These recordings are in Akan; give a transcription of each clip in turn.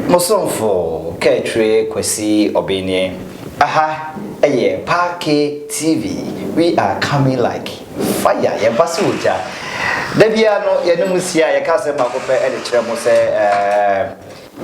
Mo somfo Kaatwire Kwasi Ɔbenneɛ. Aha yɛ Paake TV we are coming like fire yɛba sɛ ogya. Da biara no yɛne mo hyia a yɛka asɛm baako pɛ de kyerɛ mo sɛ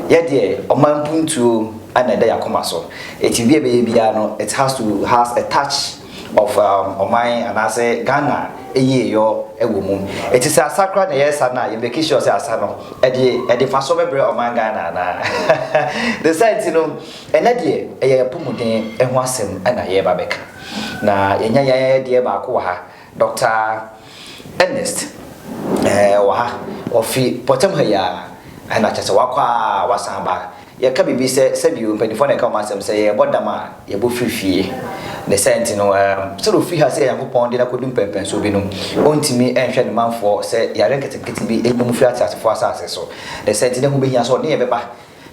yɛ deɛ ɔman mpuntuo na ɛda yɛn akoma so. Enti biribi a yɛbɛyɛ biara no it has to has a touch. of um, ɔman anaasɛ Ghana yieyɔ wɔ mu. Ɛti sɛ asa koraa na yɛresa no a, yɛbɛki sure sɛ asa no ɛde ɛde fa so bɛbrɛ ɔman Ghana anaa. De saa nti no, ɛnɛ deɛ ɛyɛ apɔmuden ho asɛm na yɛreba bɛka. Na yɛnya yɛn deɛ baako wɔ ha, Dr. Ernest ɛɛ wɔ ha, ɔfi pɔtam ha yi ara, ɛna kyɛ sɛ wakɔ a wasan ba. Yɛka biribi sɛ, sɛdeɛ mpaninfoɔ na ɛka wɔn asɛm sɛ, yɛrebɔ dam a, yɛbɔ firi fie. Ne saa nti no, sɛdeɛ ɔfiri ha sɛ Nyankopɔn de no akɔdu mpɛnpɛnsoɔ bi no, ɔntumi nhwɛ ne manfoɔ sɛ yareɛ nketenkete bi nya mu firi ateasefoɔ asase so. Ne saa nti na ɛho bɛhia sɛ ɔne yɛn bɛba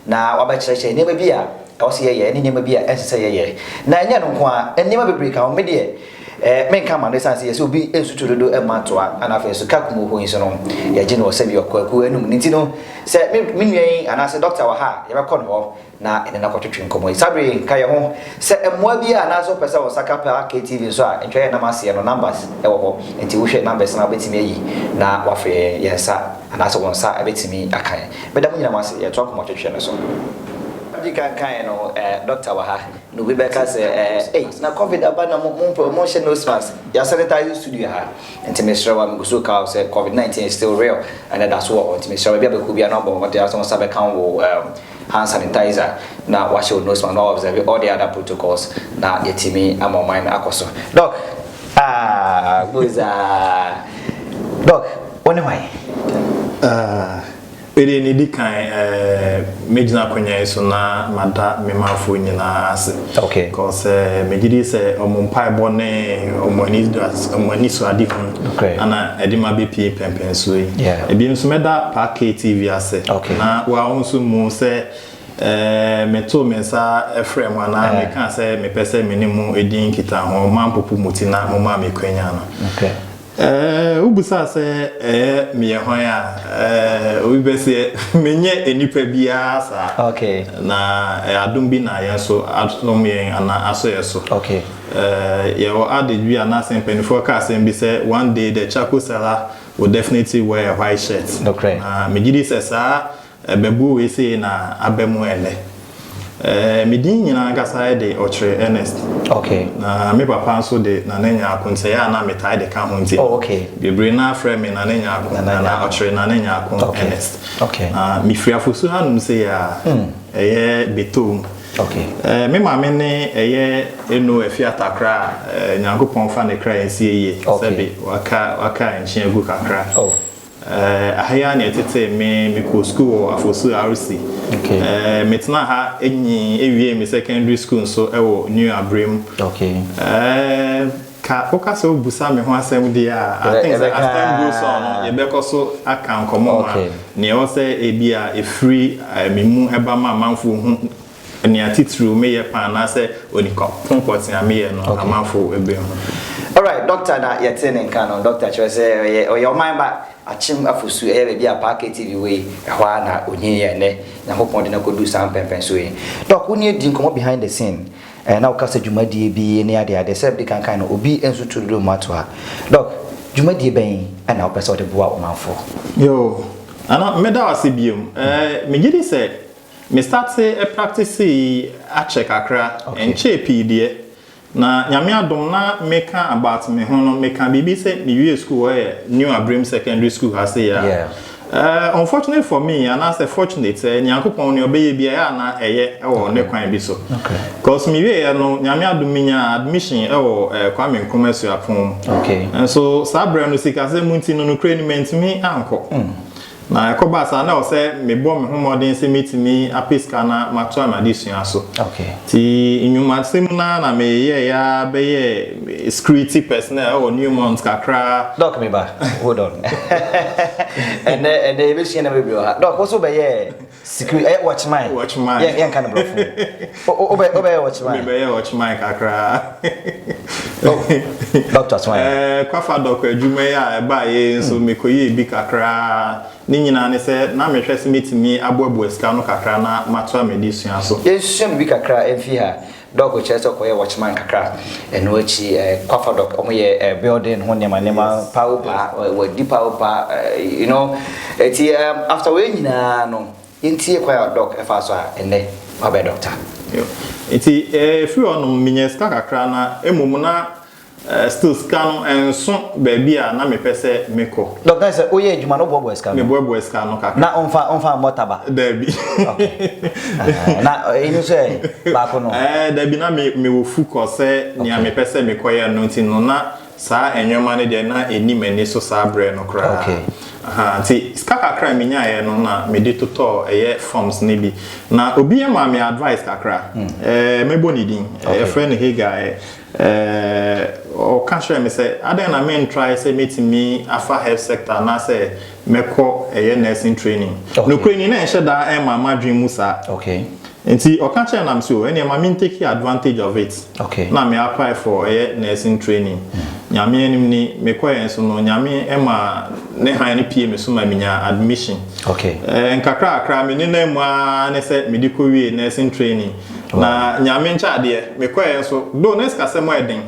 na wabɛkyerɛkyerɛ nneɛma bi a ɛwɔ sɛ yɛyɛ ne nneɛma bi a ɛnsɛ sɛ yɛyɛ. Na ɛnyɛ ɛno nko ara, nneɛma bebree ka ho. Me deɛ, Ɛɛ, menka mma no esiane sɛ yɛsɛ obi nsu to dodo mma ntoa, na afei nso ka kum oho yi nso no, yɛgye no wɔ sɛdeɛ ɔkɔ akuo anum no nti no, sɛ me me nua yi anaasɛ dɔkta wɔ ha a, yɛbɛkɔ ne hɔ na yɛne no akɔtwetwe nkɔmmɔ yi. Saa berɛ yi, ka yɛn ho. Sɛ mmoa biara anaasɛ wopɛ sɛ wo nsa ka pa KTV nso a, ntwa yɛn nam aseɛ no, numbers wɔ hɔ, nti wohwɛ numbers no a wobɛtumi ayi na woafrɛ yɛn, yɛn nsa anaasɛ wo nsa bɛtumi aka yɛn. Meda mo nyinaa mo ase, yɛtoa nkɔmmɔtwetwe no so. Madi kan kaeɛ no, ɛɛ, dɔkta wɔ ha. Na obi bɛka sɛ, Ɛɛ, ei, na Covid aba na mo, mompɛ, monhyɛ nose mask. Yɛasanitize studio ha. Nti mesrɛ wo a, megu so reka wo sɛ Covid 19 is still real, ɛna ɛda so wɔ hɔ. Nti mesrɛ wo, baabi a bɛkɔ biara no abɔ mmɔden ara sɛ wo nsa bɛka wo um, hand sanitizer, na woahyɛ wo nose mask, na wo observe all the other protocols, na yɛatumi ama ɔman no akɔ so. Doc! Aah, Mose ah! Doc, wo ne hwan? Aah. Bere a edi kan a megyina akonnwa yi so na mada me manfo nyinaa ase. Okay. Because eh, megye di sɛ wɔn mpaebɔ ne wɔn anidas- wɔn anisoadehu Okay. ana ɛde ma bepie mpɛnpɛnsoɔ yi. Yeah. Ebiom nso mɛda Pa KTV ase. Okay. Na wa wo nso mu sɛ eh, metoo me nsa frɛ mo anaa Eh. mekaa sɛ mepɛ sɛ me ne mo di nkitaho, moampopo mo ti na momaa me kwanya no. Okay. Eeh wobisaa sɛ ɛyɛ meyɛ hwan a eeh obi bɛseɛ menyɛ nnipa biara saa okay na ɛyɛ adom bi na yɛn so asom yɛn anaa asɔ yɛn so okay eeh yɛwɔ adage bi anaasɛ mpanimfoɔ ka asɛm bi sɛ one day the charcoal seller will definitely wear a white shirt nokorɛ na megyedi sɛ saa Ɛbɛbuo wei sei na aba mu ɛnnɛ. Ɛɛ, me din nyinaa ankasa de Ɔkyere Ernest. Okay. Na me papa nso de Nana Nyarko nti sɛ ɛyɛ a na metae de ka ho nti. Oh, okay. Bebree no ara frɛ me Nana Nyarko anaa Ɔkyere Nana Nyarko Ernest. Okay. Na mefiri Afosu hanom sei a, hmm. ɛyɛ Betoom. Okay. Ɛɛ, me maame ne ɛyɛ Eno Afi Atakra a, ɛɛ, Nyankopɔn fa ne kra nsie yie. Okay. Sɛbe, waka, waka nkyen agu kakra. Oh. Eh, aha yi ara na ɛtetee me. Mekɔɔ sukuu wɔ Afosu RC. Okay. Eh, metenaa ha nyin ewiee me secondary school nso wɔ New Abrem. Okay. Eh, ka woka sɛ wobusa me ho asɛm deɛ a, I Ɛbɛ- think sɛ ɛbɛka- as time goes on no, yɛbɛkɔ so aka nkɔmmɔ ma Okay. nea ɛwɔ sɛ ebi a ɛfiri eh, me mu ɛba ma amanfoɔ hu Nea titiriw meyɛ paa anaasɛ onipa ko pɔtee a meyɛ no amanfo behu. Alright, Doctor na yɛtee ne nka no. Doctor kyerɛ sɛ ɔyɛ ɔyɛ ɔman ba, Akyem Afosu, ɛyɛ baabi a Paa KTV wɔ yi, ɛhɔ ara na onyin yɛ nnɛ. Nyankopɔn de no akodu saa mpɛnpɛnso yi. Doc, wo ne yɛn di nkɔmmɔ behind the scene, ɛɛ na woka sɛ dwumadie bi ne ade ade, sɛdeɛ mede kan kae no, obi nso tu dodo mmoa to ha. Doc, dwumadie bɛn na wopɛ sɛ wode boa ɔmanfoɔ? Yoo, ɛno, meda wo ase bio. Ɛɛ, megye di sɛ Me startee practice yi akyɛ kakra, ɛnkyɛɛ pii deɛ. Na Nyame adom na meka about me ho no, meka biribi sɛ me wie school wɔ ɛyɛ New Abirem Secondary School ha sei a. Eh, unfortunately for me, anaasɛ fortunate, eh, Nyankopɔn nea ɔbɛyɛ bia ɛyɛ a na ɛyɛ ɛwɔ ne kwan bi so. Cause me wie yɛ no, Nyame adom me nyaa admission ɛwɔ eh, Kwame Nkrumah Suapɔn mu. Nso saa berɛ no, sikasɛm nti no, nokorɛ ni mantumi ankɔ. Na ɛkɔbaa saa na ɛwɔ sɛ mebɔ me ho mmɔden sɛ mɛtumi apɛ sika na matoa m'adesua so. Nti nnwumasɛm no ara na meyɛeɛ ara bɛyɛɛ security personnel wɔ Newmont kakra. Doc me ba, hold on. Ɛnnɛ ɛnnɛ yɛbɛsua nneɛma bebree wɔ ha. Doc wo nso wobɛyɛɛ Sikiri ɛyɛ wɔkyeman. Wɔkyeman. Yɛ yɛn ka no brɔfo. O o bɛ o bɛ yɛ wɔkyeman. Mi bɛ yɛ wɔkyeman kakra. Oh, doctor so ayɛ. Ɛɛ eh, kwafa dɔkɔ adwuma yi a ɛbaa yɛ nso mi kɔ yɛ ebi kakra. Ne nyinaa ne sɛ na mi hwɛ sɛ mi ti mi aboaboa sika no kakra na ma to a mi de sua so. Yɛn sua bibi kakra ɛnfi ha. Dɔg kyerɛ sɛ ɔkɔyɛɛ watchman kakra. Ɛno akyi Kwafa Dɔg wɔyɛ building ho nneɛma nneɛma paa wo paa wɔadi paa wo paa you know ɛti after wei nyinaa no yɛntie kwan a Dɔg ɛfa so a ɛnɛ wabɛ dɔkta. Nti ɛfiri hɔ nom menyɛ sika kakra na mmom na Still sika no ɛnso baabi a na mepɛ sɛ mekɔ. Dɔk na sɛ woyɛ adwuma no woboaboa sika no? Meboaboa sika no kakra. Na womfa womfa mmɔ taba? Daabi. Okay. Na ɛyi no nso ɛ baako no? Ɛɛ daabi na me mewɔ fukɔ sɛ nea mepɛ sɛ mekɔyɛ no nti no na saa nneɛma no deɛ na ɛnni m'ani so saa berɛ no koraa. Okay. Ahaa nti sika kakra a menyaeɛ no na mede totɔɔ ɛyɛ forms no bi. Na obi ma me advice kakra. Ɛɛ mɛbɔ ne din. Okay. Yɛfrɛ no Hagar. Ɛɛ, ɔka kyerɛɛ me sɛ, Adɛn na mentrae sɛ mɛtumi afa health sector anaasɛ mɛkɔ ɛyɛ nursing training? Nokorɛ ni, na ɛnhyɛ da mma m'adwene mu saa. Enti ɔka kyerɛɛ na mese, Oh, ɛnneɛ ma me take advantage of it na me apply for ɛyɛ nursing training. Nyame anim ni, mekɔeɛ nso no, Nyame maa Ne hann no pue me so ma menyaa admission. Ɛɛ, nkakrakra, me nenam mu ara ne sɛ mede kɔwiee nursing training. Na Nyame nkyɛ adeɛ, mekɔeɛ nso, though na sikasɛm yɛ den,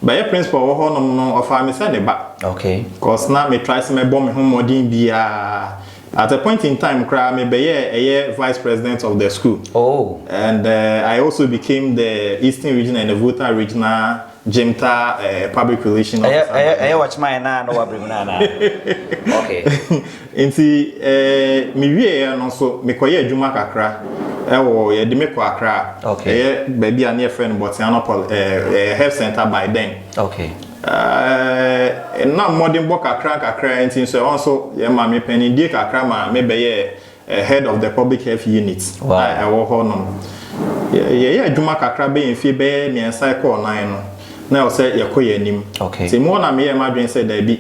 but yɛ principal wɔ hɔ nom no, ɔfaa me sɛ ne ba. Okay. Cause na me try sɛ mɛbɔ me ho mmɔden biara. At a point in time koraa, me bɛyɛɛ ɛyɛ Vice President of the school. Oh. And I also became the Eastern Region and the Volta Regional. Jim Taa, eh, public relation officer. Ɛyɛ ɛyɛ ɛyɛ wɔkyema yɛn naa na wɔabere mu naa na. Okay. Nti eh, me wie yɛ no nso mekɔyɛ adwuma kakra ɛwɔ yɛde me kɔ Accra. Okay. Ɛyɛ baabi a ne yɛfrɛ no Botsiano Poly eh, eh, Health Center by then. Okay. Eh, na mmɔdenbɔ kakra kakra nti nso ɛhɔ nso yɛ ma me panindie kakra ma mebɛyɛ Head of the Public Health Unit a ɛwɔ hɔ nom. Yɛyɛɛ adwuma kakra bɛyɛ mfie bɛyɛ mmiɛnsa ɛkɔɔ nnan no, na ɛwɔ sɛ yɛkɔ yɛn anim. Okay. Nti mu hɔ na meyɛɛ m'adwene sɛ daabi,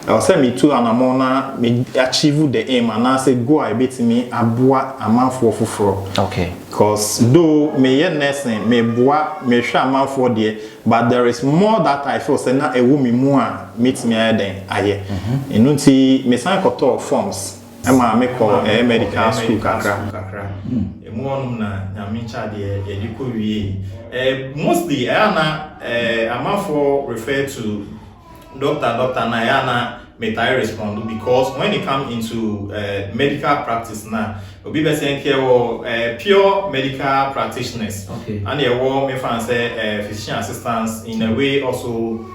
ɛwɔ sɛ metu anamɔn na me achieve the aim anaasɛ goal a ɛbɛtumi aboa amanfoɔ foforɔ. Okay. Cos though meyɛ nursing, meboa, mehwɛ amanfoɔ deɛ, but there is more that I feel sɛ na ɛwɔ me mu a mɛtumi ayɛ dɛn ayɛ. Ɛno nti mesan kɔtɔɔ forms. Ɛmaa me kɔɔ ɛyɛ medical school kakra. Ɛmu hɔ nom na Nyame kyaa deɛ yɛde kɔ wiee. Eh, mostly ɛyɛ a na eh, amanfoɔ refer to doctor doctor na ɛyɛ a na metaa respond because when it come into eh, medical practice na obi bɛ sɛ nkɛ wɔ eh, pure medical practitioners. Okay. Ɛna ɛwɔ mefa no sɛ eh, physician assistants in a way also.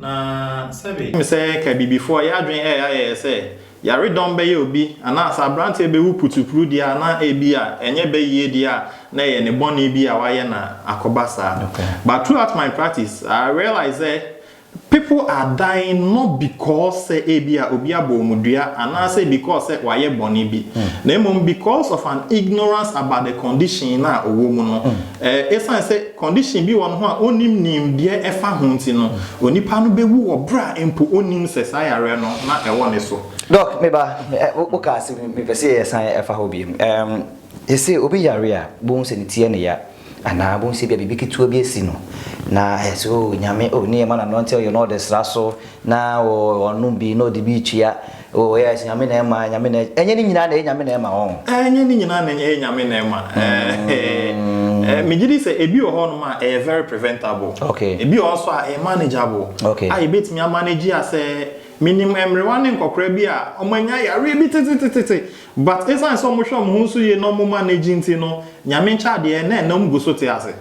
Na sɛbe, ɛwom sɛ ka Abibifoɔ yɛ adwene ɛyɛ ayɛyɛ sɛ yaredɔm bɛyɛ obi anaa sɛ aberanteɛ bɛwu putuputu deɛ a, na ebia ɛnyɛ bɛ yie deɛ a, na ɛyɛ ne bɔne bi a wayɛ na akɔba saa. But throughout my practice, I realize sɛ people are dying not because sɛ ebia obi abɔ wɔn dua anaasɛ because sɛ wayɛ bɔne bi, na mmom because of an ignorance about the condition no a ɔwɔ mu no. Ɛsiane sɛ. Condition bi wɔ no ho a ɔnnim nimdeɛ ɛfa ho nti no, onipa no bɛwu wɔ berɛ a mpo ɔnnim sɛ saa yareɛ no na ɛwɔ ne so. Doc, me ba, wo ka ase, me pɛ sɛ yɛ san ɛfa hɔ biom. Ɛɛm, yɛ se obi yare a, bo hu sɛ ne ti ɛne ya, anaa bo hu sɛ bia biribi ketewa bi asi no, na ɛyɛ sɛ oo Nyame, oo ne yɛ ma no anante, ɔyɛ na ɔde sra so, na ɔɔ ɔnom bi na ɔde bi retua. Oh yes, Nyame na ɛma, Nyame na ɛgye. Ɛnyɛ ne nyinaa na ɛyɛ Nyame na ɛma wɔn. Ɛnyɛ ne nyinaa na ɛyɛ Nyame na ɛma. Ɛɛ, megye di sɛ ebi wɔ hɔ nom a ɛyɛ very preventable. Okay. Ebi wɔ hɔ nso a ɛyɛ manageable. Okay. A yɛbɛtumi a manage a sɛ, menim mmerewa ne nkɔkora bi a wɔanya yareɛ bi tetetetete, but ɛsiane sɛ wɔhwɛ wɔn ho nso yie na wɔn manage nti no, Nyame nkyɛ adeɛ, na ɛnam gu so te ase.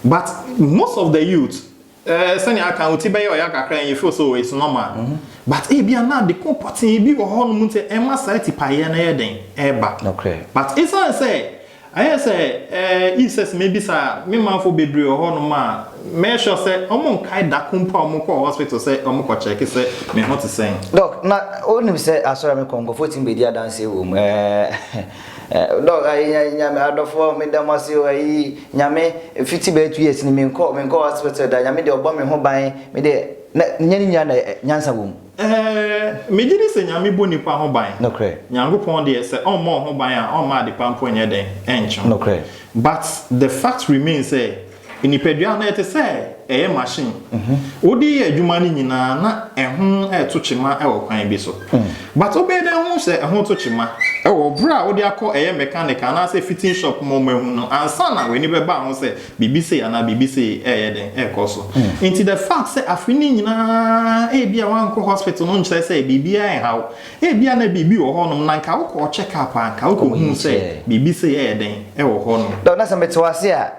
But most of the youth, Eh sɛnea aka no wo ti bɛyɛ ɔya kakra and you feel so it's normal but ebia na ade ko pɔtee bi wɔ hɔ nom nti a ɛma saa tipaeɛ no yɛ dɛn ɛba but esiane sɛ ayɛ sɛ eh Isis mɛbisa me manfo bebree wɔ hɔ nom a mɛyɛ sure sɛ wɔn nkae da ko mpo a wɔn kɔɔ hospital sɛ wɔn kɔ check sɛ me ho te sɛn. Doc na wo nim sɛ asɔre a me kɔ nkurɔfoɔ tumi bɛdi adanseɛ wɔ mu eh. Dɔg ayi nya nyame adɔfoɔ meda mo ase o ayi nyame fiti bɛyɛ two years ni me nkɔ me nkɔ hospital da nyame deɛ ɔbɔ me ho ban me deɛ na nyɛ ne nyina na nyansa wɔ mu. Ɛɛɛ me gyedi sɛ nyame bɔ nipa ho ban Nokorɛ. nyankopɔn deɛ sɛ ɔmmɔ wo ho ban a ɔmma adepa mpo nyɛ dɛn ɛnkye wo Nokorɛ. but the fact remains sɛ Nipadua no, ɛte sɛ ɛyɛ machine. Wode yɛ adwuma no nyinaa na ɛho reto kyema wɔ kwan bi so. But wobɛyɛ dɛn ahu sɛ ɛho reto kyema? Wɔ bere a wode akɔ ɛyɛ mechanic anaasɛ fitting shop ma wɔahu no ansa na w'ani bɛba ho sɛ biribi sei anaa biribi sei reyɛ dɛn rekɔ so. Enti the fact sɛ afe no nyinaa ebia woankɔ hospital no nkyerɛ sɛ biribiara nhaw wo. Ebia na biribi wɔ hɔnom na anka wokɔɔ check up a anka wokɔhuu sɛ biribi sei reyɛ dɛn wɔ hɔnom. Doc, na sɛ mete wo ase a,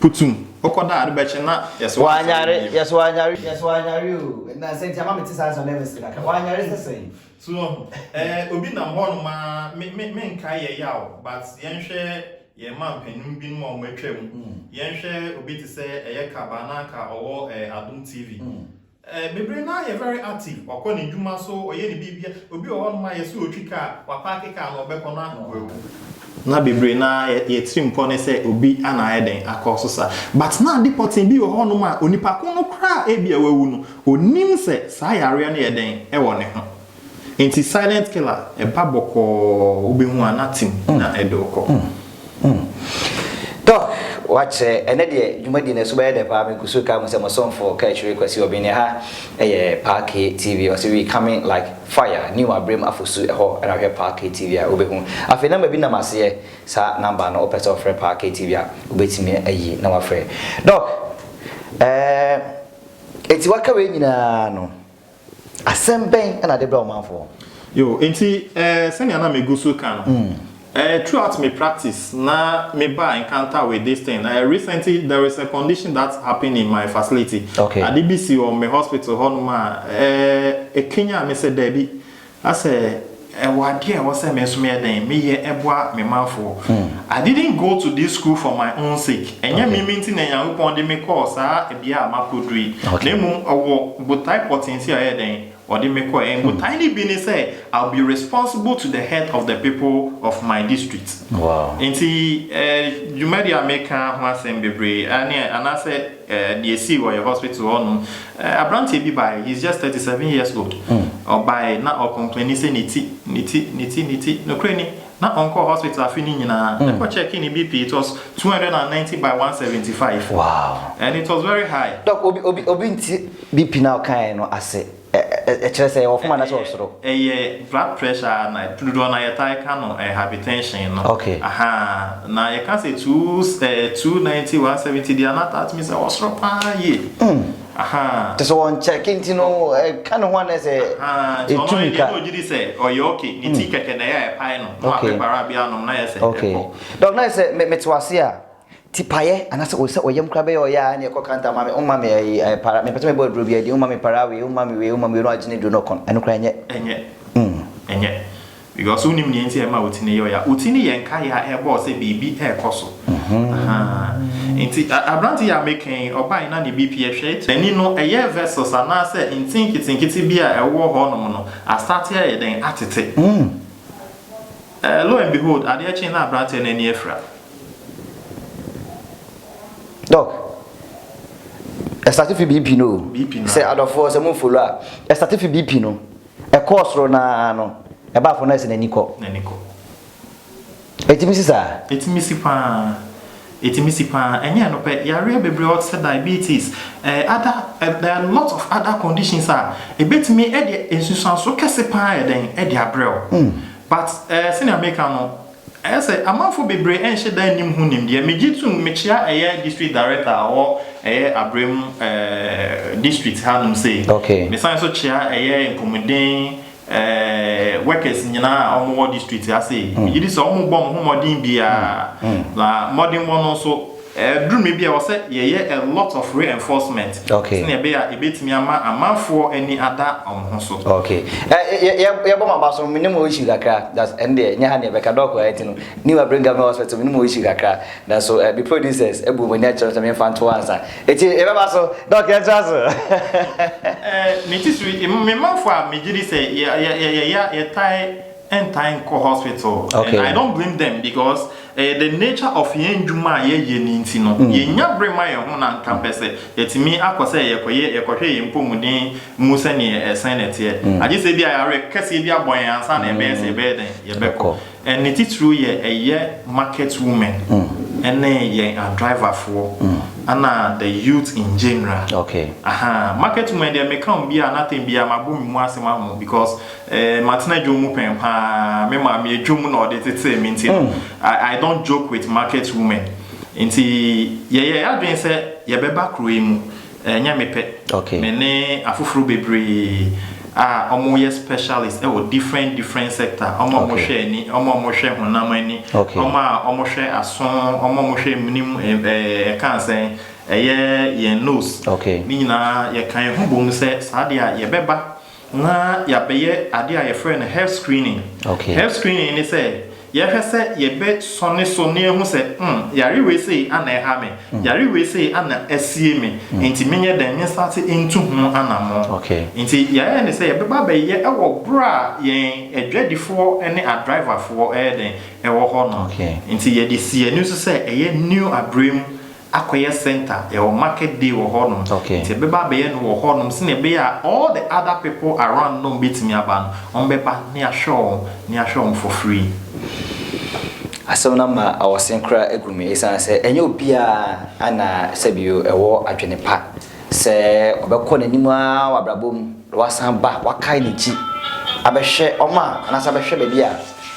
Putum, wokɔ da a ade bɛkye na yɛse woansɔre bio. Wanyare, yɛse wanyare, yɛse wanyare o, na sɛ nti ama mete saa nsɛm no ɛma sika kakra, wanyare sɛ sɛn? So wahu, ɛɛ obi nam hɔnom a, me, me, menkae yɛ yaw, but yɛnhwɛ yɛn mampanin binom a wɔatwam, yɛnhwɛ obi te sɛ ɛyɛ Kaba na anka ɔwɔ ɛɛ Adom TV, Eh bebree naa yɛ very active ɔkɔ ne dwuma so ɔyɛ ne biribia obi wɔ hɔ nom a yɛse ɔtwi car wa parke car no ɔbɛkɔ no ano wawu. Na bebree naa yɛ yɛ tirim pɔ ne sɛ obi ana ayɛ dɛn akɔ so saa but na ade pɔtee bi wɔ hɔ nom a onipa ko no koraa a ebia wawu no ɔnim sɛ saa yareɛ no yɛ dɛn ɛwɔ ne ho Nti silent killer ɛba bɔkɔɔ wobɛhu a nothing na ɛde wo kɔ. Doc wakyerɛ, ɛnɛ deɛ dwumadi no ɛso bɛyɛ dɛ paa me kusuu kaa mu sɛ mo somfo Kaakyire Kwasi Obini ha ɛyɛ Paa K TV ɔse we coming like fire new abrem afosu ɛhɔ na hwɛ Paa K TV a wobɛhu afei number bi nam aseɛ saa number no wopɛ sɛ wofrɛ Paa K TV a wobɛtumi ayi na wafrɛ Doc ɛɛ eti waka wei nyinaa no. Asɛm bɛn na wɔde brɛ ɔmanfoɔ? Yo, enti eh, sɛnea na megu so reka no, mm. eh, throughout my practice, na me ba encounter with this thing. Eh, recently, there is a condition that happened in my facility. Okay. Ade bi si wɔ me hospital hɔ nom a, eh, ekenya me sɛ daabi. Na sɛ ɛwɔ adeɛ a ɛwɔ sɛ me nso meyɛ dɛn meyɛ boa me manfoɔ. I didn't go to this school for my own sake, ɛnyɛ me me nti na Nyankopɔn de me kɔɔ saa bea a makɔduru yi, na mmom ɛwɔ botae pɔtee nti a ɔyɛɛ dɛn? Ɔde me kɔeɛ. And botae no bi ne sɛ I'll be responsible to the health of the people of my district. Nti dwumadi a meka ho asɛm bebree ne anaasɛ. Deɛ ɛsii wɔ yɛ hospital hɔ nom, abranteɛ bi baeɛ, he's just thirty seven years old, ɔbaeɛ na ɔ complaini sɛ ne ti, ne ti, ne ti, ne ti, nokorɛ ni, na ɔnkɔɔ hospital afe no nyinaa, ɛkɔ checkii ne BP, it was two hundred and ninety by one seventy five, and it was very high. Dɔk, obi, obi, obi nte BP no a ɔkaeɛ no ase. Ɛ ɛ ɛkyerɛ sɛ ɔfom anaasɛ ɔsoro? Ɛ ɛ ɛyɛ blood pressure ara na ɛ dodoɔ no ara yɛtae ka no ɛ hypertension no. Okay. Ahaa na yɛka sɛ two ɛ ɛ two ninety one seventy deɛ a na that means ɛwɔ soro paa yie. Mm. Ahaa. Te sɛ wɔn check nti no ɛka ne ho anaasɛ Ahaa nti ɔno etu ayɛ deɛ mmirika? na ɔgye di sɛ ɔyɛ okay ne ti kɛkɛ na ɛyɛ a ɛpae no na Okay. wapɛ para bi anom na ayɛ sɛ Okay. ɛkɔ. Doc na ayɛ sɛ me mete wo ase a. Tipaeɛ anaasɛ ɔyɛ sɛ ɔyam koraa bɛyɛ a ɔyɛ a ɛne ɛkɔ kanta ma me woma me ayi para mepɛ sɛ mebɔ aduro bi adi woma me para wei woma me wei woma me wei na wagyene duro no ɔkɔn ɛno koraa ɛnyɛ. Ɛnyɛ. Ɛnyɛ. Because wonim nea nti a ɛma wo ti no yɛ ɔyɛ a wo ti no yɛ nkaeɛ a ɛbɔ wo sɛ biribi ɛrekɔ so ahaa nti aberante yi a meka yi ɔbae na ne BP ɛhwɛ it n'ani no ɛyɛ vessels anaasɛ nti nketenkete bi a ɛwɔ hɔnom no astate ayɛ dɛn atete. Eh, lo and behold, adeɛ kye na abranteɛ no ani afira. Doc, ɛstate fi BP no o. BP no. Sɛ adɔfoɔ sɛ mo follow a, ɛstate fi BP no. Ɛkɔɔ soro no ara no, ɛbaa fam no ayɛ sɛ n'ani kɔ. N'ani kɔ. Ɛtumi si saa? Ɛtumi si pa ara. Ɛtumi si pa ara. Ɛnyɛ ɛno pɛ, yareɛ bebree wɔ te sɛ diabetes, eh, other, eh, there are lots of other conditions a ɛbɛtumi de nsunsuansoɔ kɛse pa ara ayɛ dɛn de abrɛ wo. But eh sɛnea meka no, ɛyɛ sɛ amanfo bebree nhyɛ da nnim ho nimdeɛ. Megye tom, mekyea ɛyɛ District Director a ɔwɔ ɛyɛ Abrem eh District hanom sei. Okay. Mesan nso kyea ɛyɛ Mpomuden eh workers nyinaa a wɔwɔ District ha sei. Megye di sɛ wɔbɔ wɔn ho mmɔden biara, na mmɔdenbɔ no nso, Ɛduru mmɛ bi a ɛwɔ sɛ yɛyɛ a lot of reinforcement sɛnea ɛbɛyɛ a yɛbɛtumi ama amanfoɔ ani ada wɔn ho so. Okay. Eh, yɛbɔ maba so, menim wɔ issue kakra, that's ɛn deɛ, nyɛ ha neɛ bɛka dɔɔko ayɛ ti no, new abirem government hospital, menim wɔ issue kakra, na so eh, bi producers, ɛbu wɔn ani akyerɛ sɛ memfa nto ansa. Eti, yɛbɛba so, dɔɔko yɛntra so. Eh, me ti so, me manfoɔ a megye di sɛ yɛyɛ, yɛtae, ɛntae nkɔ hospital and I don't blame them because ɛyɛ the nature of yɛn ndwuma a yɛyɛ no nti no yɛnnya bere ma yɛn ho na nka mpɛ sɛ yɛtumi akɔ sɛ yɛkɔyɛ yɛkɔhwɛ yɛn mpɔmuden mu sɛdeɛ ɛsɛn na ɛteɛ agye sɛ bi a yareɛ kɛseɛ bi abɔ yɛn ansa na ɛbɛyɛ sɛ yɛbɛyɛ dɛn yɛbɛkɔ and ne titiriw yɛ ɛyɛ market women ɛne yɛn adriverfoɔ ɛna the youth in general aha market women deɛ meka wɔn bi a na tɛn bi a mabɔ me mu ase ma wɔn because Eh, matena dwom mu pɛn paa. Me maame yɛ dwom na ɔde tetee me nti no, I, I don't joke with market women. Nti yɛyɛ adwene sɛ yɛbɛba kuro yi mu. Ɛnyɛ me pɛ. Okay. Me ne afoforo bebree a wɔyɛ specialist wɔ different different sector. Wɔn a wɔhwɛ ani, wɔn a wɔhwɛ honam ani, Okay. wɔn a wɔhwɛ aso, wɔn a wɔhwɛ mmenem, eh, eh, ɛka asɛn, ɛyɛ yɛn nose. Okay. Ne nyinaa yɛka yɛn ho bom sɛ saa deɛ a yɛbɛba. na yɛabɛyɛ adeɛ a yɛfrɛ no health screening. Okay. Health screening ne sɛ yɛhwɛ sɛ yɛbɛsɔ ne so na yɛhu sɛ mm, yare wei sei ana ɛha me, mm. yare wei sei ana asie me, mm. nti menyɛ dɛn mensate ntu ho anamɔ. Okay. Nti yɛayɛ ne sɛ yɛbɛba bɛyɛ ɛwɔ berɛ a yɛn adwadifoɔ ne adriverfoɔ ɛyɛ dɛn ɛwɔ hɔ no. Okay. Nti yɛde si ani so sɛ ɛyɛ new abrɛ mu akɔyɛ center yɛwɔ market day wɔ hɔ nom okay nti yɛbɛba abɛyɛ no wɔ hɔ nom sɛnea ɛbɛyɛ a all the other people around nom bɛtumi aba no wɔn bɛba na yɛahwɛ wɔn na yɛahwɛ wɔn for free. Asɛm no ama awɔsen koraa agu me ɛsiane sɛ ɛnyɛ obiara na sɛbio ɛwɔ adwene pa Sɛ ɔbɛkɔ n'anim ara wɔ abrabɔ mu na wasan aba, wakae n'akyi abɛhwɛ wɔn a, anaasɛ abɛhwɛ baabi a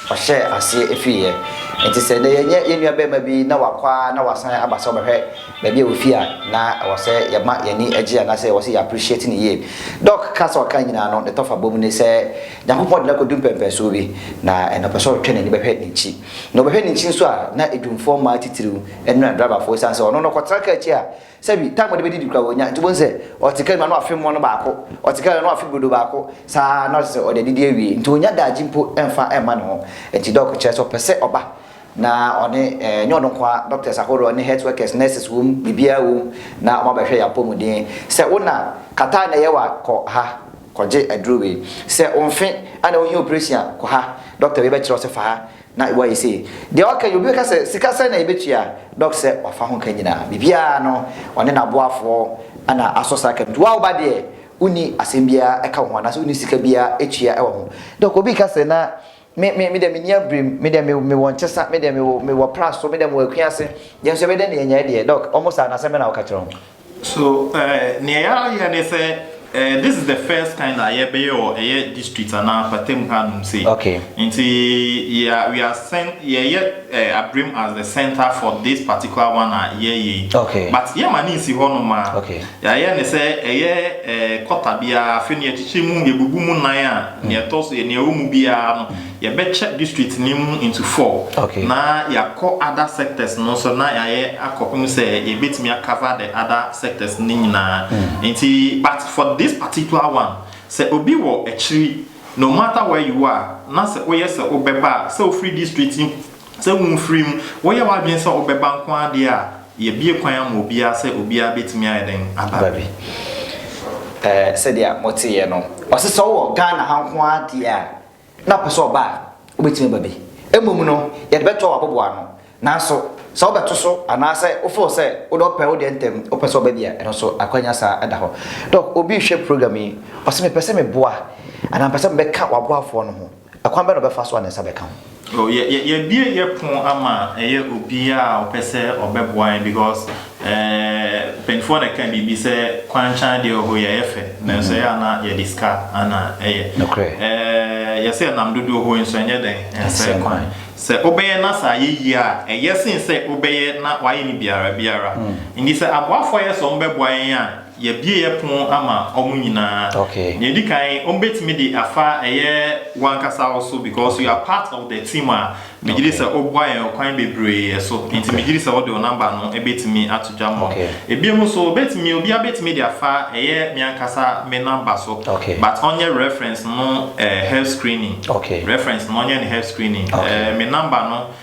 ɔhyɛɛ aseɛ fiiɛ. Nti sɛ nnɛ yɛnyɛ yɛn nua barima bi na wakɔ ara na wasan aba sɛ ɔbɛhwɛ baabi a ɔfii a, na ɛwɔ sɛ yɛma yɛn ani gye anaasɛ ɛwɔ sɛ yɛ appreciate no yie. Doc kaa sɛ ɔka ne nyinaa no, ne tɔfa bɔ mu ne sɛ, Nyankopɔn de no akɔdu mpɛnpɛnsoɔ bi, na ɛnnɛ ɔpɛ sɛ ɔtwe n'ani bɛhwɛ n'akyi. Na ɔbɛhwɛ n'akyi nso a, na adwumfoɔ mmaa titiriw ne na driverfoɔ, ɛsiane sɛ ɔno no ɔkɔtena kaa akyi a, Sɛ bi, time a ɔde bɛdidi koraa ɔnnya, nti wobɛhu sɛ ɔte kaa mu a na wafe mmono baako, ɔte kaa mu a na wafe brodo baako, saa ara na ɔsɛ sɛ ɔde adidi awie, nti ɔnnya daagye mpo mfa mma ne ho. Nti dɔk kyerɛ sɛ ɔpɛ sɛ ɔba na ɔne, ɛnyɛ ɔno nko ara, doctors ahoroɔ ne health workers, nurses wom, biribiara wom, na wɔabɛhwɛ yɛn apɔmuden. Sɛ wo na kataa na ɛyɛ wo a, kɔ ha kɔgye aduro wei. Sɛ wo mfe a na wohia operation a, kɔ ha, dɔkta wei bɛkyerɛ wo sɛ fa ha. Na wɔayɛ sei. Deɛ ɔka yi, obi bɛka sɛ, sika sɛn na yɛbɛtua? Doc sɛ, wafa ho ka nyinaa. Biribiara no, ɔne n'aboafoɔ na asɔ saa ka no. Nti wo a woba deɛ, wonni asɛm biara ɛka wo ho anaasɛ wonni sika biara tua wɔ ho. Doc, obi reka sɛ, na me, me, me deɛ menni abirim, me deɛ me, mewɔ nkyesa, me deɛ mewɔ, mewɔ pra so, me deɛ mewɔ akua ase, yɛn nso yɛbɛyɛ dɛn na yɛanya yi deɛ? Doc, wɔn saa no, asɛm bɛn na woka kyerɛ wɔn? So eh neɛ yɛayɛ ne sɛ eh this is the first kind a yɛbɛyɛ wɔ ɛyɛ district anaa mpatamu ha nom sei Okay. nti yɛ a we are sen yɛyɛ eh abrem as the centre for this particular one a yɛyɛ yi Okay. but yɛma ne nsi hɔ nom a Okay. yɛayɛ ne sɛ ɛyɛ eh kɔta biara afei no yɛkyekyɛ mu yɛbubu mu nan a neɛ ɛtɔ so neɛ ɛwɔ mu biara no Yɛbɛkyɛ district no mu into four na yɛakɔ other sectors no nso na yɛayɛ akɔpem sɛ yɛbɛtumi a cover the other sectors no nyinaa. Nti but for this particular one, sɛ obi wɔ akyiri, no matter where you are, na sɛ woyɛ sɛ wobɛba a, sɛ wofiri district yi mu, sɛ womfiri mu, woyɛ w'adwene sɛ wobɛba nko ara deɛ a, yɛabue kwan ama obiara sɛ obiara bɛtumi ayɛ dɛn aba bi. Sɛdeɛ moteeɛ no, ɔse sɛ wowɔ Ghana ha nko ara deɛ a, na ɔpɛ sɛ ɔba a, wobɛtumi aba bi. Mmom no, yɛde bɛtoa w'aboboano. Nanso, sɛ wobɛto so anaasɛ wo feel sɛ wode ɔpɛ wo deɛ ntɛm, wopɛ sɛ ɔba bi a, ɛno nso akwanya saa da hɔ. Doc, obi rehwɛ program yi, ɔse mepɛ sɛ meboa anaa mepɛ sɛ mebɛka w'aboafoɔ no ho. Ɛkwan bɛn na ɔbɛfa so a ne nsa bɛka ho? Oh, yɛ, yɛ, yɛabue yɛ pon ama ɛyɛ obiara a ɔpɛ sɛ ɔbɛboa yɛn because. Eeh mpanyinfoɔ na ɛka biribi sɛ kwankyan deɛ oho yɛ yɛ fɛ nanso ɛyɛ a na yɛde sika na ɛyɛ Nokorɛ. Eeh yɛsɛ ɛnam dodoɔ ho nso ɛnyɛ dɛn ɛnsɛe kwan sɛ wobɛyɛ na sɛ ayɛ yie a ɛyɛ sen sɛ wobɛyɛ na wayɛ no biara biara nti sɛ aboafoɔ a yɛsɛ wɔn bɛboa yɛn a Yɛabueɛ pon ama wɔn nyinaa. Okay. Nea edi kan, wɔbɛtumi de afa ɛyɛ w'ankasa wo so because you are part of the team a megye di sɛ wobua yɛn ɔkwan bebree so. Nti megye di sɛ wode wo number no bɛtumi ato dwa ma wɔn. Ebinom nso, wɔbɛtumi, obiara bɛtumi de afa ɛyɛ me ankasa me number so. Okay. But ɔnyɛ reference no eh, health screening. Okay. Reference no ɔnyɛ no health screening. Okay. Eh, me number no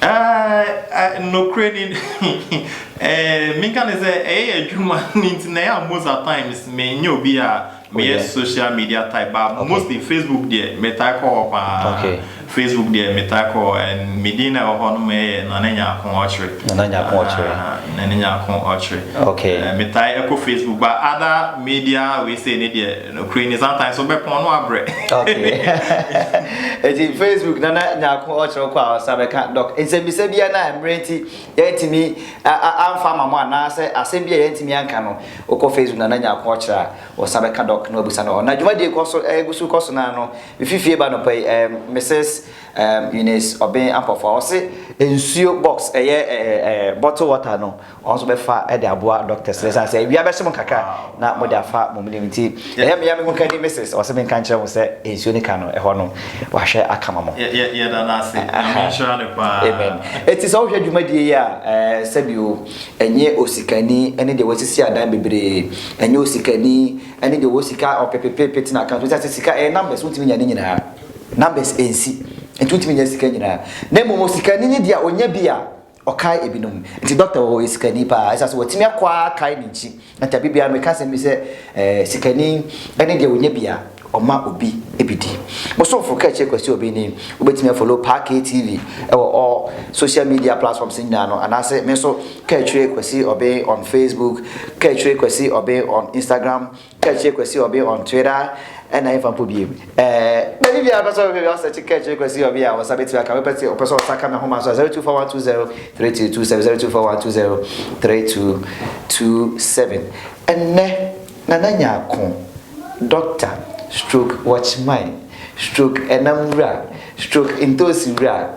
Ɛɛ, nokorɛ ni, ɛɛ, menka ne sɛ ɛyɛ adwuma no nti na ɛyɛ a most at times menyɛ obi a meyɛ social media type but okay. mostly Facebook deɛ metaa kɔ hɔ paa. Okay. Facebook deɛ metaa kɔ hɔ and me din na ɛwɔ hɔ no mɛyɛ Nana Nyako Ɔkyere. Nana Nyako Ɔkyere. Uh, ah, Nana Nyako Ɔkyere. Okay. Uh, metaa ɛkɔ Facebook but other media we say ne deɛ Nokore ni sometimes wo bɛpɔn no abrɛ. Okay eti Facebook nana nyako ɔkyerɛw kɔ a ɔsa bɛka doc nsɛmbisa bia na mmerɛ nti yɛntumi amfa ama mo anaa sɛ asɛm bia yɛntumi anka no wokɔ Facebook nana nyako ɔkyerɛ a ɔsa bɛka doc na wabusa no hɔ na dwumadie kɔ so ɛgu so kɔ so naa no mefi fie ba nɔpa yi ɛɛ Mrs Eunice Obeng Ampɔfoa ɔse nsuo box ɛyɛ ɛɛ bottle water no Wɔn nso bɛfa de aboa doctors no ɛsiane sɛ awia bɛhye mo kakra na mode afa mo menim nti ɛyɛ meya me ho ka ni Mrs. Ɔse menka nkyerɛ mo sɛ nsuo no ka no ɛhɔ no wahwɛ aka ma mo. Yɛda no ase. Nyame nhyira no paa. Amen. Enti sɛ wohwɛ dwumadie yi a ɛɛ sɛbio ɛnyɛ osikani ne deɛ wasisi adan bebree ɛnyɛ osikani ne deɛ ɔwɔ sika ɔpepepepe tena account ɛsiane sɛ sika ɛyɛ numbers wontumi nya ne nyinaa numbers ɛnsi nti wontumi nya sika nyinaa na mmom osikani ne deɛ ɔnya bi a Ɔkae ebinom. Enti dɔkta wɔ hɔ, ɔyɛ sikani paa. Esiane sɛ watumi akɔ ara akae ne nkyi nti, da bi biara meka asɛm bi sɛ, Ɛɛ, sikani ne deɛ ɔnya bi a, ɔma obi bi di. Bosomfo Kɛkyɛ Kwasi Obeng ni. Wobɛtumi afolo Pa KTV wɔ all social media platforms nyinaa no, anaase me nso Kɛkyerɛ Kwasi Obeng on Facebook, Kɛkyerɛ Kwasi Obeng on Instagram, Kɛkyerɛ Kwasi Ɔbe on Twitter ɛna yɛmfa mpo biem ɛɛ baabi biara pɛ sɛ ɔbɛhwɛ bi asɛkye Kɛkyerɛ Kwasi Ɔbe a wɔsa bɛtumi aka mepɛ sɛ ɔpɛ sɛ ɔsa ka me homa so a 0241203227 0241203227 ɛnnɛ Nana Nyarko Dɔkta stroke Watchman stroke Ɛnam Wura stroke Ntoosi Wura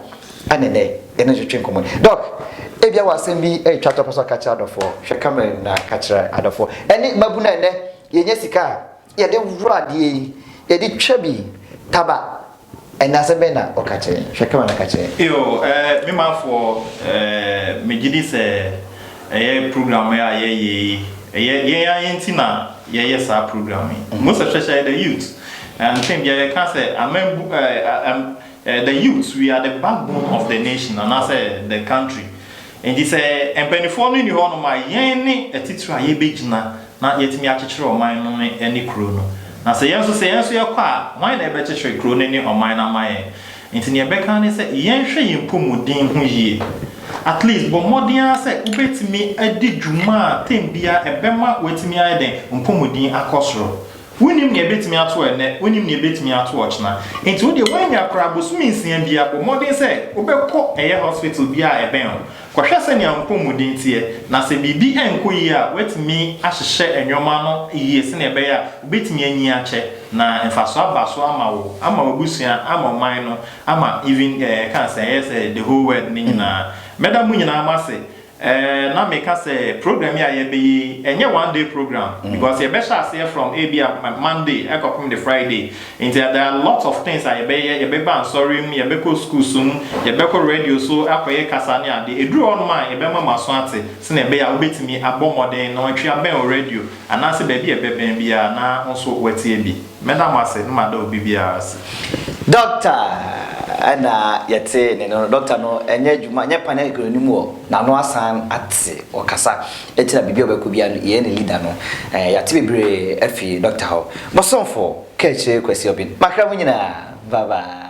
Ɛne nnɛ, yɛne no twetwe nkɔmmɔ yi. Doc, ebia wɔ asɛm bi retwa to a wopɛ sɛ ɔka kyerɛ adɔfoɔ. Hwɛ camera yi mu na ka kyerɛ adɔfoɔ. Ɛne mmabunu a nnɛ yɛnya sika a yɛde woro adeɛ yi, yɛde twa bi, taba. Ɛnna asɛm bɛn na ɔka kyerɛ yɛn? Hwɛ camera na ka kyerɛ yɛn. Yo, eh, me manfoɔ, eh, megye di sɛ ɛyɛ program a yɛyɛ yi, ɛyɛ yɛn ara yɛn ti na yɛyɛ saa program yi. Most especially the youth. Eh, mpɛn biara yɛka sɛ amambu, eh, eh, The youths we are the backbone of the nation anaasɛ the country nti sɛ mpaninfoɔ no nni hɔ nom a yɛn ne atitire a yɛbɛgyina na yɛatumi akyekyere ɔman no ne kuro no na sɛ yɛn nso sɛ yɛn nso yɛkɔ a hwan na ɛbɛkyekyere kuro no ne ɔman no ama yɛn nti neɛ ɛbɛka ne sɛ yɛn hwɛ yɛn mpɔmuden ho yie at least bɔ mmɔden ara sɛ wobɛtumi adi dwuma a tɛm bia ɛbɛma watumi ayɛ dɛn mpɔmuden akɔ soro Wonnim nea ebetumi ato ɛnnɛ, wonnim nea ebetumi ato ɔkyena. Enti wo deɛ woannya koraa bosome nsia biara, bɔ mmɔden sɛ wobɛkɔ ɛyɛ hospital biara a ɛbɛn wo. Kɔhwɛ sɛnea wo mpɔmuden teɛ, na sɛ biribi nkɔ yie a, woatumi ahyehyɛ nneɛma no yie sɛnea ɛbɛyɛ a wobetumi anyin akyɛ, na mfaso aba so ama wo, ama w'abusua, ama ɔman no, ama even eh, ɛka sɛ ɛyɛ sɛ the whole world no nyinaa. Mɛda mo nyinaa mo ase Ɛɛ na meka sɛ program yi a yɛbɛyɛ yi ɛnyɛ one day program because yɛbɛhyɛ aseɛ from ebia Monday ɛkɔpem de Friday nti there are a lot of things a yɛbɛyɛ yɛbɛba nsɔre mu yɛbɛkɔ schools mu yɛbɛkɔ radio so akɔyɛ kasa ne ade ɛduru hɔ nom a yɛbɛma mo aso ate sɛnea ɛbɛyɛ a wobɛtumi abɔ mmɔden nɔɔtwe abɛn wo radio anaasɛ baabi a ɛbɛbɛn biara na wo nso woatie bi. Mɛda mo ase na mada obi biara ase. Dɔkta na yɛte ne no no, dɔkta no nyɛ adwuma nyɛ pane agorɔ no mu ɔ, n'ano asan ate, ɔkasa ɛkyerɛ biribi a ɔbɛkɔ biara no, yɛyɛ ne leader no, yɛate bebree afiri dɔkta hɔ. Mosomfo, Kaakyire Kwasi Obin, M'akra mu nyinaa, bye bye.